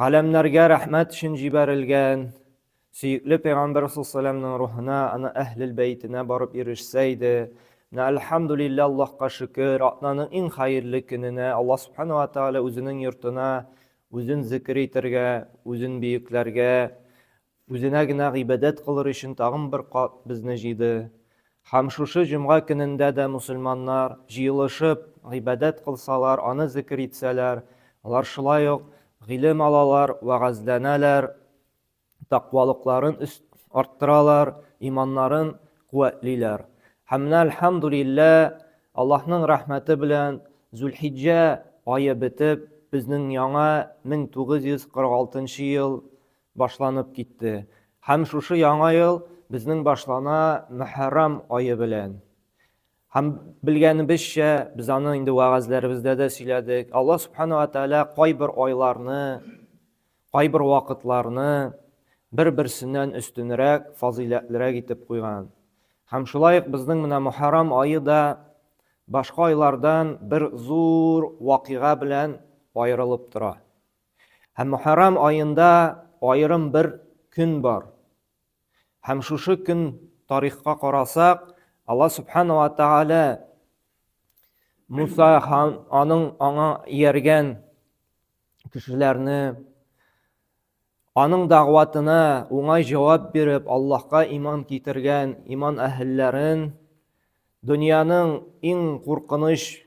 Галәмнәргә рәхмәт өчен җибәрелгән, сөекле пәйгамбәр салләлләһү рухына, аны әһлел бәйтенә барып ирешсә иде. Менә әлхәмдүлиллә, Аллаһка шөкер, атнаның иң хәерле көненә Аллаһ Субхана ва Тәгалә үзенең йортына үзен зикер итәргә, үзен биекләргә, Үзенә генә гыйбадәт кылыр өчен тагын бер кат безне җыйды. Һәм шушы җомга көнендә дә мөселманнар, җыелышып, гыйбадәт кылсалар, аны зекер итсәләр, алар шулай ук гыйлем алалар, вәгазьләнәләр, такъвалыкларын арттыралар, иманнарын куәтлиләр. Һәм менә, әлхәмдүлиллә, Аллаһның рәхмәте белән, Зулхиҗҗә ае бетеп, безнең яңа 1946 ел башланып китте. Һәм шушы яңа ел безнең башлана Мөхәррам ае белән. Һәм белгәнебезчә, без аны инде вәгазьләребездә дә сөйләдек. Алла Субхана ва Тәгалә кайбер айларны, кайбер вакытларны бер-берсеннән өстенрәк, фазыйләтлерәк итеп куйган. Һәм шулай ук безнең менә Мөхәррам ае да башка айлардан бер зур вакыйга белән аерылып тора. Һәм Мөхәррам аенда аерым бер көн бар. Һәм шушы көн тарихка карасак, Алла Субхана ва Тааля Муса һәм аның аңа ияргән кешеләрне аның дәгъватына уңай җавап биреп, Аллаһка иман китергән иман әһелләрен дөньяның иң куркыныч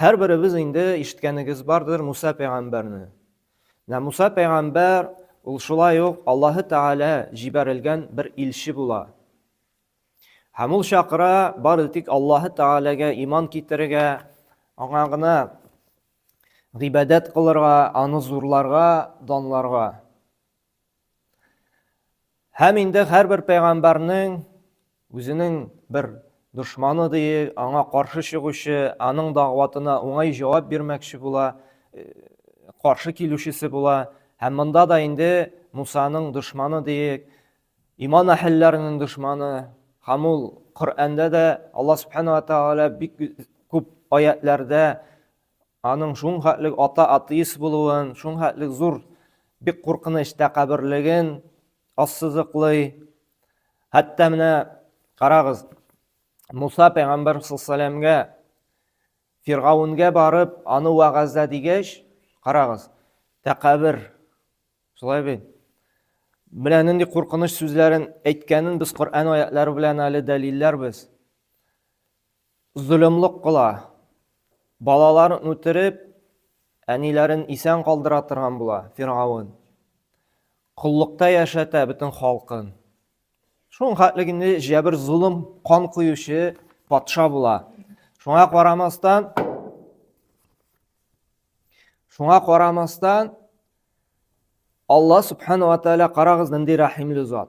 Һәрберебез инде ишеткәнегез бардыр Муса пәйгамбәрне. Менә Муса пәйгамбәр ул шулай ук Аллаһы Тәгалә җибәрелгән бер илче була. Һәм ул чакыра бары тик Аллаһы Тәгаләгә иман китерергә, аңа гына гыйбадәт кылырга, аны зурларга, данларга. Һәм инде һәрбер пәйгамбәрнең үзенең бер дошманы диек, аңа каршы чыгучы, аның дагъватына уңай җавап бирмәкче була, э, каршы килүчесе була. Һәм монда да инде Мусаның дошманы диек, иман әһелләренең дошманы. Һәм ул Коръәндә дә Алла Субхана ва Тааля бик күп аятләрдә Аның шунхәтлек ата атеист булуын, шунхәтлек зур бик куркыныч тәкәбберлеген ассызыклый. Хәтта менә карагыз, Муса пәйгамбәр саллалләһү Фиргавунгә барып, аны вәгазьлә дигәч, карагыз, тәкәбер. Шулай бит. Менә нинди куркыныч сүзләрен әйткәнен без Коръән аятлары белән әле дәлилләрбез. Золымлык кыла. Балаларын үтереп, әниләрен исән калдыра торган була Фиргавен. Коллыкта яшәтә бөтен халкын. Шуның хәтлек инде җәбер золым, кан коючы патша була. Шуңа карамастан, шуңа карамастан, Алла субхана ва тәала карагыз нинди рәхимле зат.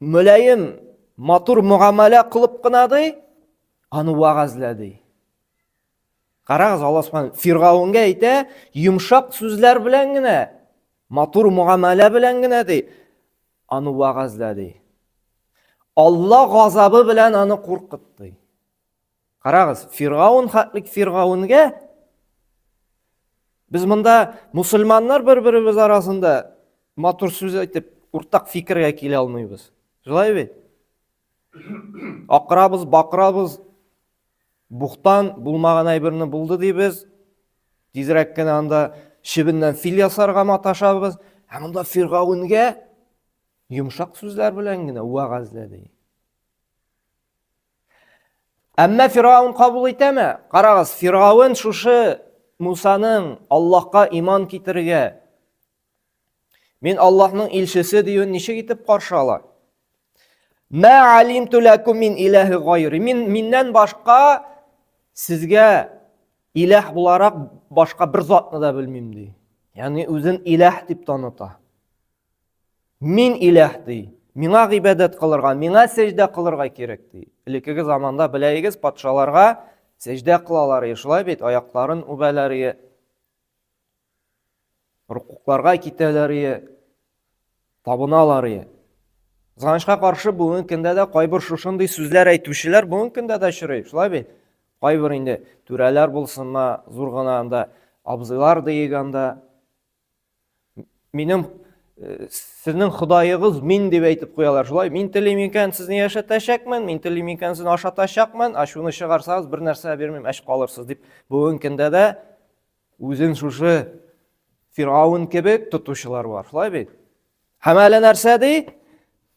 Мөлаем, матур мөгамәлә кылып кына ди, аны вәгазьләде. Карагыз, Алла Субхан Фиргавенгә әйтә, йомшак сүзләр белән генә, матур мөгамәлә белән генә ди, аны вәгазьләде. Алла газабы белән аны куркытты. Карагыз, Фиргаун хәтлек Фиргаунгә без монда мусульманнар бер-беребез арасында матур сүз әйтеп, уртак фикергә килә алмыйбыз. Шулай бит? Акырабыз, бакырабыз, бухтан булмаган әйберне булды дибез. Тизрәк кенә анда чебеннән фил ясарга маташабыз. Ә монда Фиргаунгә йомшак сүзләр белән генә вәгазьләде. Әмма Фираун кабул итәме? Карагыз, Фираун шушы Мусаның Аллаһка иман китерергә, мин Аллаһның илчесе диюен ничек итеп каршы ала? Мә алим туләкум мин иләһи гайри. Мин миннән башка сезгә иләһ буларак башка бер затны да белмим ди. Ягъни үзен иләһ дип таныта. Мин иләһ ди. Миңа гыйбадәт кылырга, миңа сәҗдә кылырга кирәк ди. Элеккеге заманда беләегез, патшаларга сәҗдә кылалар иде, шулай бит, аякларын үбәләр иде. Рукукларга китәләр иде, табыналар иде. Кызганычка каршы, бүгенге көндә дә кайбер шушындый сүзләр әйтүчеләр бүгенге көндә дә очрый, шулай бит? Кайбер инде түрәләр булсынмы, зур гына анда абзыйлар диегәндә Минем э, сезнең Ходаегыз мин дип әйтеп куялар. Шулай мин телим икән, сезне яшәтәчәкмен, мин телим икән, сезне ашатачакмын, ачуны чыгарсагыз, бер нәрсә бирмим, әч калырсыз дип. Бүгенге көндә дә үзен шушы Фирауын кебек тотучылар бар. Шулай бит? Һәм әле нәрсә ди?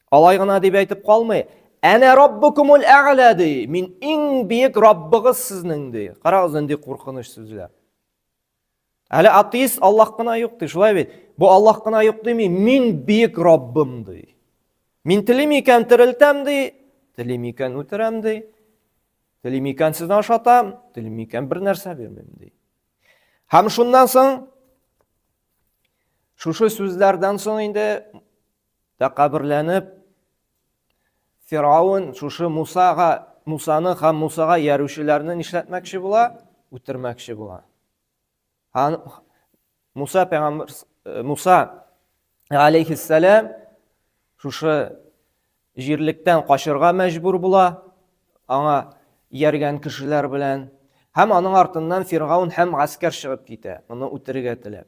Алай гына дип әйтеп калмый. Әнә Раббукумул әгълә ди. Мин иң биек Раббыгыз сезнең ди. Карагыз нинди куркыныч сүзләр. Әле атеист Аллах кына юк ди, шулай бит. Бу Аллах кына юк дими, мин бөек Раббым ди. Мин телим икән терелтәм ди, телим икән үтерәм ди. Телим икән сезне ашатам, телим икән бер нәрсә бирмим ди. Һәм шуннан соң шушы сүзләрдән соң инде тәкәберләнеп Фиргавен шушы Мусага, Мусаны һәм Мусага ярүчеләрне нишләтмәкче була? Үтермәкче була. Һәм Муса пәйгамбер э, Муса алейхиссалам шушы җирлектән качырга мәҗбүр була, аңа ияргән кешеләр белән һәм аның артыннан Фиргаун һәм гаскәр чыгып китә, аны үтерергә теләп.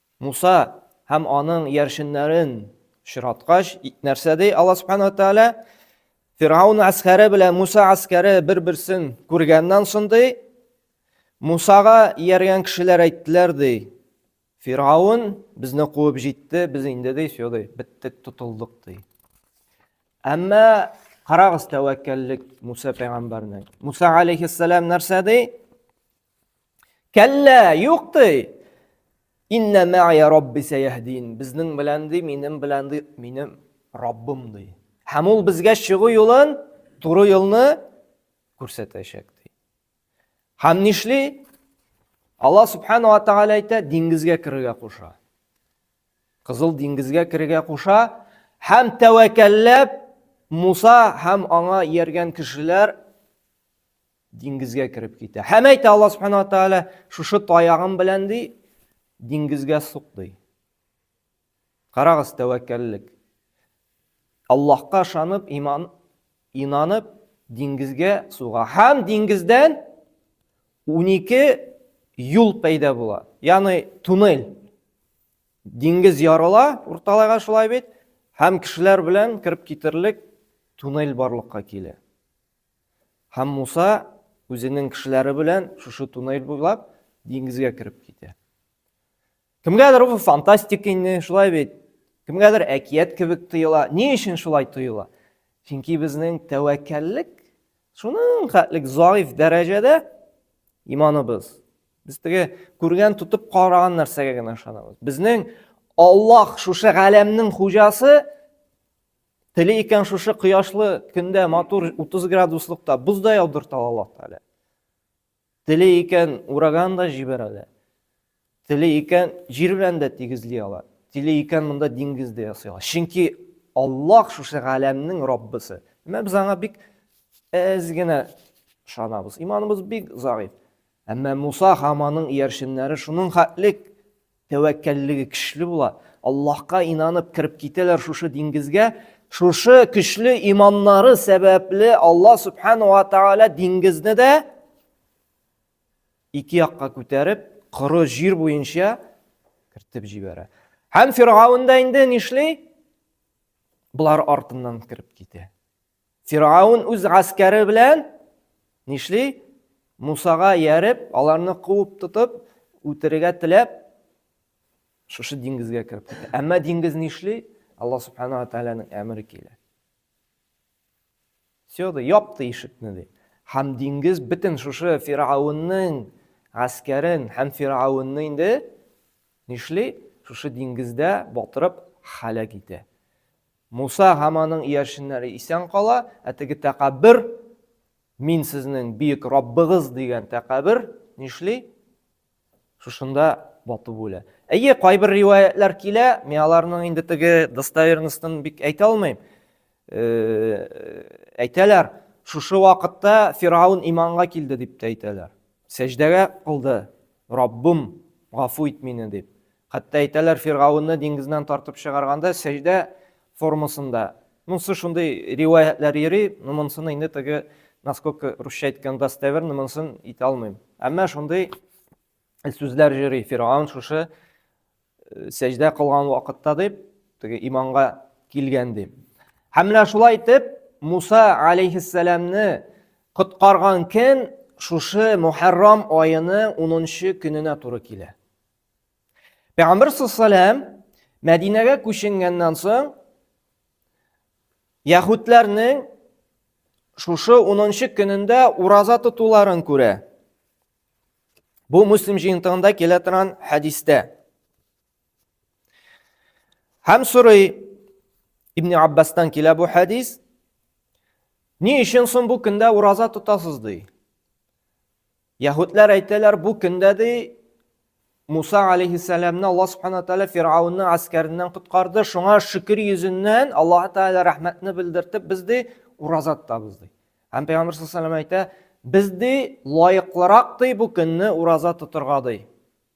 Муса һәм аның яршеннәрен очраткач, нәрсә ди Алла Субхану ва Тааля? Фиргауны гаскәре белән Муса гаскәре бер-берсен күргәннән соң ди, Мусага ияргән кешеләр әйттеләр ди, Фиргаун безне куып җитте, без инде ди, все ди, биттек, тотылдык ди. Әмма карагыз тәвәккәллек Муса пәйгамбәрнең. Муса алейхиссалам нәрсә ди? Кәллә, юк ди. Инна мәгия рабби сәяһдин. Безнең белән ди, минем белән ди, минем Раббым ди. Һәм ул безгә чыгу юлын, туры юлны күрсәтәчәк ди. Һәм нишли? Алла субхана ва тааля әйтә, диңгезгә керергә куша. Кызыл диңгезгә керергә куша һәм тәвәкәлләп Муса һәм аңа ияргән кешеләр Диңгезгә кереп китә. Һәм әйтә Алла Субхану Тәгалә, шушы таягым белән ди, диңгезгә сук ди. Карагыз тәвәккәллек. Аллаһка ышанып, иман инанып, диңгезгә суга. Һәм диңгездән 12 юл пәйда була. Ягъни туннель. Диңгез ярыла, урталайга шулай бит, һәм кешеләр белән кереп китерлек туннель барлыкка килә. Һәм Муса үзенең кешеләре белән шушы туннель буйлап диңгезгә кереп китә. Кемгәдер бу фантастик инде, шулай бит. Кемгәдер әкият кебек тоела. Ни өчен шулай тоела? Чөнки безнең тәвәккәллек шуның хәтлек заиф дәрәҗәдә иманыбыз. Без теге күргән тотып караган нәрсәгә генә ышанабыз. Безнең Аллаһ шушы галәмнең хуҗасы Теле икән шушы кояшлы көндә матур 30 градуслыкта боз да яудырта Аллаһ Тәгалә. Теле икән ураган да җибәрә дә. Теле икән җир белән дә тигезли ала. Теле икән монда диңгез дә ясый ала. Чөнки Аллаһ шушы галәмнең Раббысы. Әмма без аңа бик әз генә ышанабыз. Иманыбыз бик заиф. Әмма Муса һәм аның иярченнәре шуның хәтлек Тәвәккәллеге көчле була. Аллаһка инанып кереп китәләр шушы диңгезгә. Шушы көчле иманнары сәбәпле Аллаһ Субхану ва Тааля диңгезне дә ике якка күтәреп, коры җир буенча кертеп җибәрә. Һәм Фиргаун да инде нишли? Болар артыннан кереп китә. Фиргавн үз гаскәре белән нишли? Мусага ярып, аларны куып тотып, үтерергә теләп, шушы диңгезгә кереп китә. Әмма диңгез нишли? Алла субхана ва тәгаләнең әмере килә. Все, да япты ишекне ди. Һәм диңгез бөтен шушы Фиргавнның гаскәрен һәм Фиргавнны инде нишли? Шушы диңгездә батырып халәк итә. Муса һәм аның иярченнәре исән кала, ә теге тәкәббер, мин сезнең биек Раббыгыз дигән тәкәббер нишли? Шушында батып үлә. Әйе, кайбер риваятлар килә, мин аларның инде теге достоверностен бик әйтә алмыйм. Э, әйтәләр, шушы вакытта Фираун иманга килде дип тә әйтәләр. Сәҗдәгә кылды, Раббым, гафу ит мине дип. Хәтта әйтәләр, Фиргавенны диңгезнән тартып чыгарганда, сәҗдә формасында. Монсы шундый риваятьләр йөри, ну монсыны инде теге, насколько русча әйткән достоверно, монсын әйтә алмыйм. Әмма шундый сүзләр йөри, Фиргавен шушы сәҗдә кылган вакытта дип, теге иманга килгән дип. Һәм менә шулай итеп, Муса алейхиссәламны коткарган көн шушы Мухаррам аены 10 көненә туры килә. Пәйгамбер саллаллам Мәдинәгә күченгәннән соң яһүдләрнең шушы 10 көнендә ураза тотуларын күрә. Бу Муслим җыентыгында килә торган хәдистә. Һәм сорый Ибн Аббастан килә бу хәдис. Ни өчен соң бу көндә ураза тотасыз ди? Яһүдләр әйтәләр, бу көндә ди Муса алейхиссәламны Аллаһ субхана тәгалә Фирауның аскәреннән коткарды. Шуңа шөкер йөзеннән Аллаһ тәгалә рәхмәтне белдертеп, без ди ураза тотабыз ди. Һәм Пәйгамбер саллаллаху әйтә, без ди лаеклырак ди бу көнне ураза тотырга ди.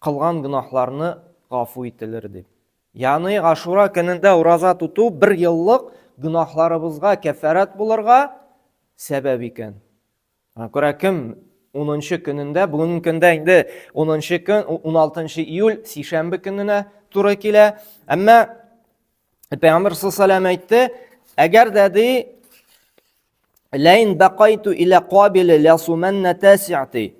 Кылган гөнаһларны гафу ителер дип. Ягъни Ашура көнендә ураза тоту бер еллык гөнаһларыбызга кәффарәт булырга сәбәп икән. Аңа күрә кем 10 көнендә, бүгенге көндә инде 10 көн, 16 июль сишәмбе көненә туры килә. Әмма Пәйгамбер саллаллаху әйтте, әгәр дә ди ләин бакайту илә кабиле ләсуманна тасиати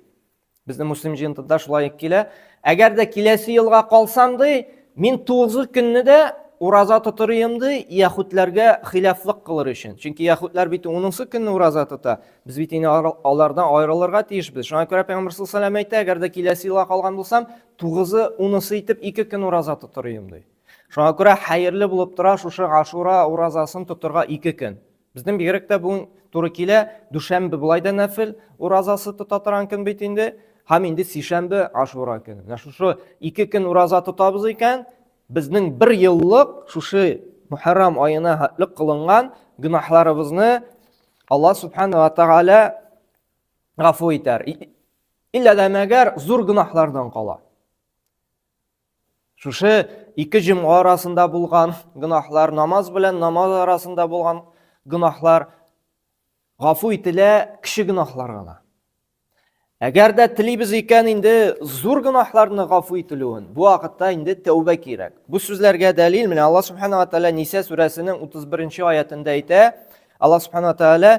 Безнең муслим җыентыда шулай килә. Әгәр дә киләсе елга калсам ди, мин 9 көнне дә ураза тотыр идем ди, яхүдләргә хилафлык кылыр өчен. Чөнки яхүдләр бит 10 көнне ураза тота. Без бит инде алардан аерылырга тиешбез. Шуңа күрә Пәйгамбер саллаллаху алейһи әйтә, әгәр дә киләсе елга калган булсам, 9-ы, 10-сы итеп 2 көн ураза тотыр идем ди. Шуңа күрә хәерле булып тора шушы Ашура уразасын тотырга 2 көн. Безнең бигрәк тә бүген туры килә. Дүшәмбе болай да нәфил уразасы тота торган көн бит инде. Һәм инде сишәмбе Ашура көне. Менә шушы ике көн ураза тотабыз икән, безнең бер еллык шушы Мухаррам аена хәтлек кылынган гөнаһларыбызны Алла субхана ва тагала гафу итәр. Иллә дә мәгәр зур гөнаһлардан кала. Шушы ике җомга арасында булган гөнаһлар, намаз белән намаз арасында булган гөнаһлар гафу ителә кеше гөнаһлар гына. Әгәр дә телибез икән инде зур гөнаһларны гафу ителүен, бу вакытта инде тәүбә кирәк. Бу сүзләргә дәлил менә Алла субханала тәала Ниса сүрәсенең 31 аятында әйтә. Алла субханала тәала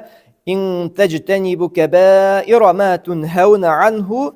ин таҗтанибу кабаира ма тунхауна анху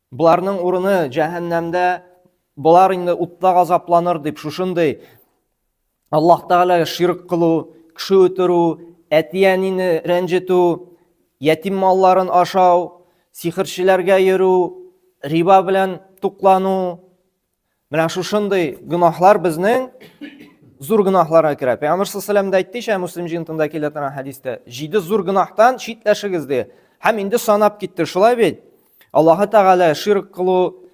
Боларның урыны җәһәннәмдә, болар инде утта газапланыр дип шушындый Аллаһ Тәгаләгә ширк кылу, кеше үтерү, әти-әнине рәнҗетү, ятим малларын ашау, сихерчеләргә йөрү, риба белән туклану, Менә шушындый гөнаһлар безнең зур гөнаһларга керә. Пәйгамбер саллаллаһу алейһи дә әйтте ишә, Муслим җыентында килә торган хәдистә, җиде зур гөнаһтан читләшегез ди. Һәм инде санап китте, шулай бит? Аллаһы Тәгалә ширк кылу,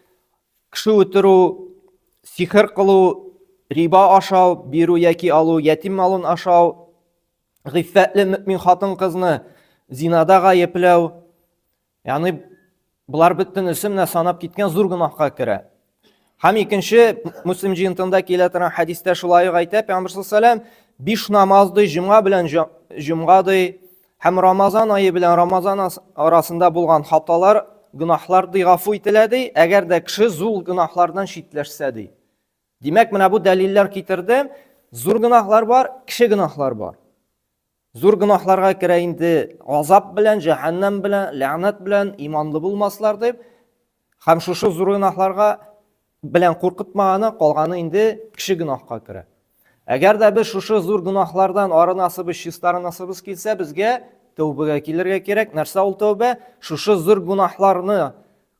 кеше үтерү, сихер кылу, риба ашау, бирү яки алу, ятим малын ашау, гыйффәтле мөмин хатын-кызны зинада гаепләү, Яны болар бөтен исемне санап киткән зур гөнаһка керә. Һәм икенче Муслим җыентында килә торган хәдистә шулай ук әйтә Пәйгамбер саллаллаһу биш намаз ди, җомга белән җомга ди, һәм Рамазан ае белән Рамазан арасында булган хаталар, гөнаһлар ди гафу ителә ди, әгәр дә кеше зур гөнаһлардан читләшсә ди. Димәк, менә бу дәлилләр китерде, зур гөнаһлар бар, кеше гөнаһлар бар. Зур гөнаһларга керә инде азап белән, җәһәннәм белән, ләгънәт белән, иманлы булмаслар дип. Һәм шушы зур гөнаһларга белән куркытмаганы, калганы инде кеше гөнаһка керә. Әгәр дә без шушы зур гөнаһлардан арынасыбыз, чистарынасыбыз килсә, безгә тәүбәгә килергә кирәк. Нәрсә ул тәүбә? Шушы зур гөнаһларны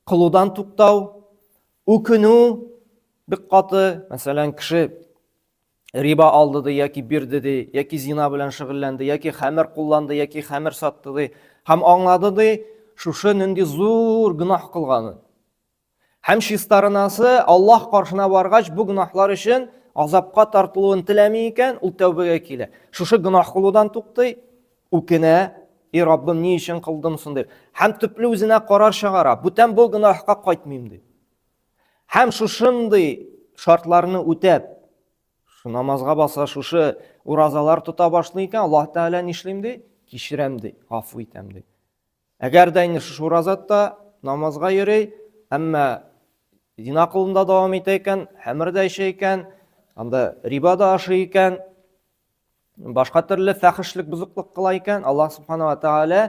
кылудан туктау, үкенү бик каты. Мәсәлән, кеше риба алды ди яки бирде ди яки зина белән шөгыльләнде яки хәмер кулланды яки хәмер сатты ди һәм аңлады ди шушы нинди зур гөнаһ кылганын һәм чистарынасы аллаһ каршына баргач бу гөнаһлар өчен азапка тартылуын теләми икән ул тәүбәгә килә шушы гөнаһ кылудан туктый үкенә и раббым ни өчен кылдым соң дип һәм төпле үзенә карар чыгара бүтән бу гөнаһка кайтмыйм дип Һәм шушындый шартларны үтәп, шу намазга баса, шушы уразалар тота башлый икән, Аллаһ Тәгалә нишлим ди? Кичерәм ди, гафу итәм ди. Әгәр дә инде шушы уразатта намазга йөри, әмма зина кылында дәвам итә икән, хәмер дә эчә икән, анда риба да ашый икән, башка төрле фәхешлек бозыклык кыла икән аллаһ субханала тәгалә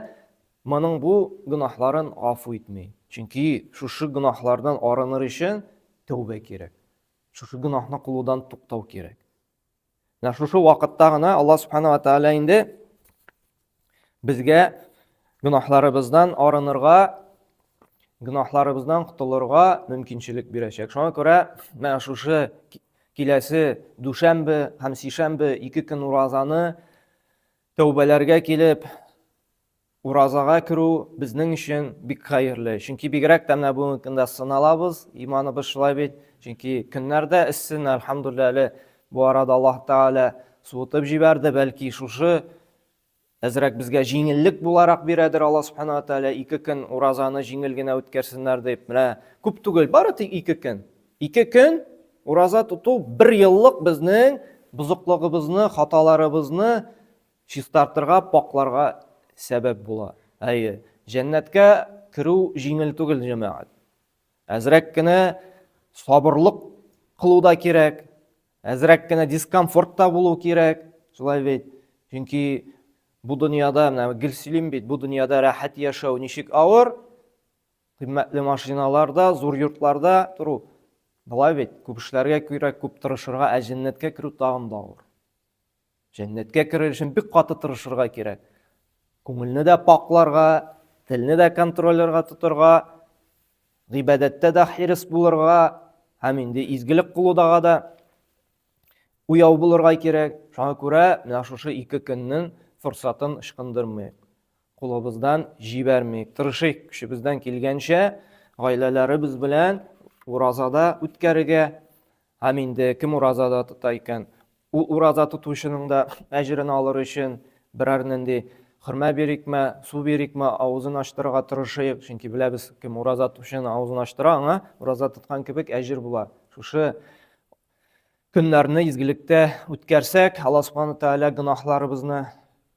моның бу гөнаһларын гафу итми чөнки шушы гөнаһлардан арыныр өчен тәүбә кирәк шушы гөнаһны кылудан туктау кирәк менә шушы вакытта гына аллаһ субханала тәгалә инде Безгә гөнаһларыбыздан арынырга, гөнаһларыбыздан котылырга мөмкинчелек бирәчәк. Шуңа күрә менә шушы киләсе дүшәмбе һәм сишәмбе ике көн уразаны тәүбәләргә килеп, уразага керү безнең өчен бик хәерле. Чөнки бигрәк тә менә бүгенге көндә сыналабыз, иманыбыз шулай бит. Чөнки көннәрдә эссе, әлхәмдулилләһ, әле бу арада Аллаһ Тәгалә суытып җибәрде, бәлки шушы әзрәк безгә җиңеллек буларак бирәдер алла субхана ва тәала ике көн уразаны җиңел генә үткәрсеннәр дип менә күп түгел бары тик ике көн ике көн ураза тоту бер еллык безнең бозыклыгыбызны хаталарыбызны чистартырга пакларга сәбәп була әйе жәннәткә керү җиңел түгел җәмәгать әзрәк кенә сабырлык кылу да кирәк Әзрәк кенә дискомфорт та булу кирәк, шулай бит. Чөнки бу дөньяда, менә гел сөйлим бит, бу дөньяда рәхәт яшәү ничек авыр, кыйммәтле машиналарда, зур йортларда тору. Болай бит, күп эшләргә кирәк, күп тырышырга, ә җәннәткә керү тагын да авыр. Җәннәткә керер өчен бик каты тырышырга кирәк. Күңелне дә пакларга, телне дә контролерга тотырга, гыйбадәттә дә хирис булырга, һәм инде изгелек кылудага да уяу булырга кирәк. Шуңа күрә менә шушы ике көннең форсатын ычкындырмыйк. Кулыбыздан җибәрмик, тырышыйк көчебездән килгәнчә гаиләләребез белән уразада үткәрергә, Һәм инде кем ураза да тота икән, ул ураза тотучының да әҗерен алыр өчен берәр нинди хөрмә бирикме, су бирикме, авызын ачтырырга тырышыйк, чөнки беләбез, кем ураза тотучының авызын ачтыра, аңа ураза тоткан кебек әҗер була. Шушы көннәрне изгелектә үткәрсәк, Алла Субхану Тәгалә гөнаһларыбызны